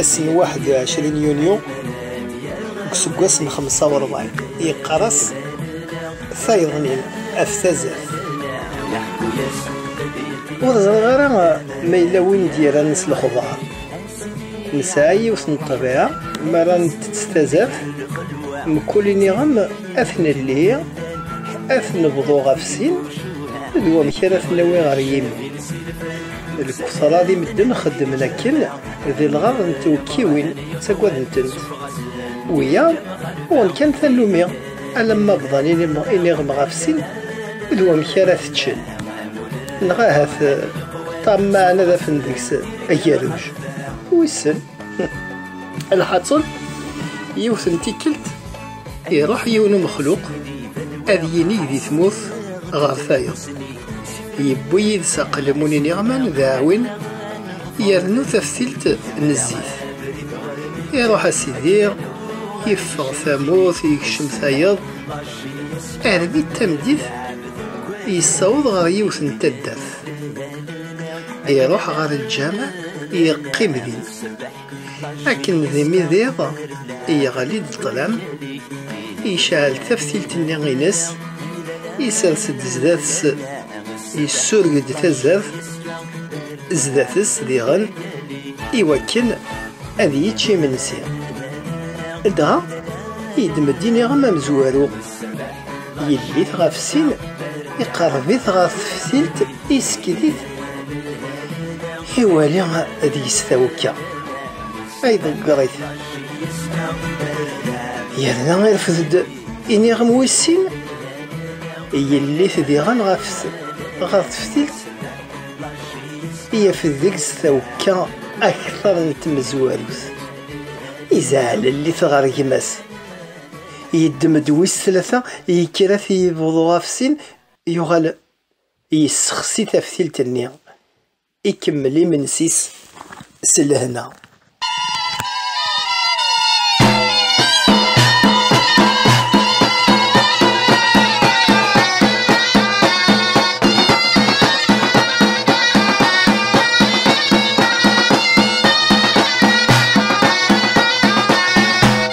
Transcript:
ass n 21 yunyu deg useggas n 45 yeqqar-as tayeḍnin af tazat ur ẓriɣ ara ma yella win i d-yerran s lexbar nesɛa yiwet n ṭṭbiɛa mi ara ntett tazat mkul iniɣem ad t-nelli ad t-nebḍu ɣef sin d wamek ara t-nawi ɣer yimi Lefsara di medden xeddmen akken di lɣar n twekkiwin ttagaden-tent. Wiyaḍ uɣen kan tannumi alamma bḍan iniɣem ɣef sin d wamek ara t-ččen. Neɣ ahat ṭṭammaɛen ad afen deg-s agerruj. Wissen. Lḥaṣun yiwet n tikkelt Iruḥ yiwen umexluq ad yinig di tmurt ɣer tayeḍ. Yewwi yid-s aqelmun iniɣman d aɛwin yernu taftilt n zzit. Iruḥ a Sidi, yeffeɣ tamurt, yekcem tayeḍ. Arbi d tameddit, yessaweḍ ɣer yiwet n taddart. Iruḥ ɣer lǧameɛ, yeqqim din. Akken d imidiḍ i yeɣli-d ṭṭlam, yecɛel taftilt-nni-ines, isers-d zdat-s, yessureg-d tazart zdat-s diɣen i wakken ad yečč imensi. Dɣa, yeddem-d iniɣem amezwaru. Yellit ɣef sin, iqerreb-it ɣer teftilt, isekket-it, iwali deg-s tawekka, ay ḍegger-it. Yerna irfed-d iniɣem wis sin, yellit diɣen ɣef ɣer teftilt, yafed deg-s tawekka akteṛ n tmezwarut, izaɛlel-it ɣer gma-s. yeddem-d wis tlata, yekker ad t-yebḍu ɣef sin, yuɣal yessexsi taftilt-nni, ikemmel imensi-s s lehna.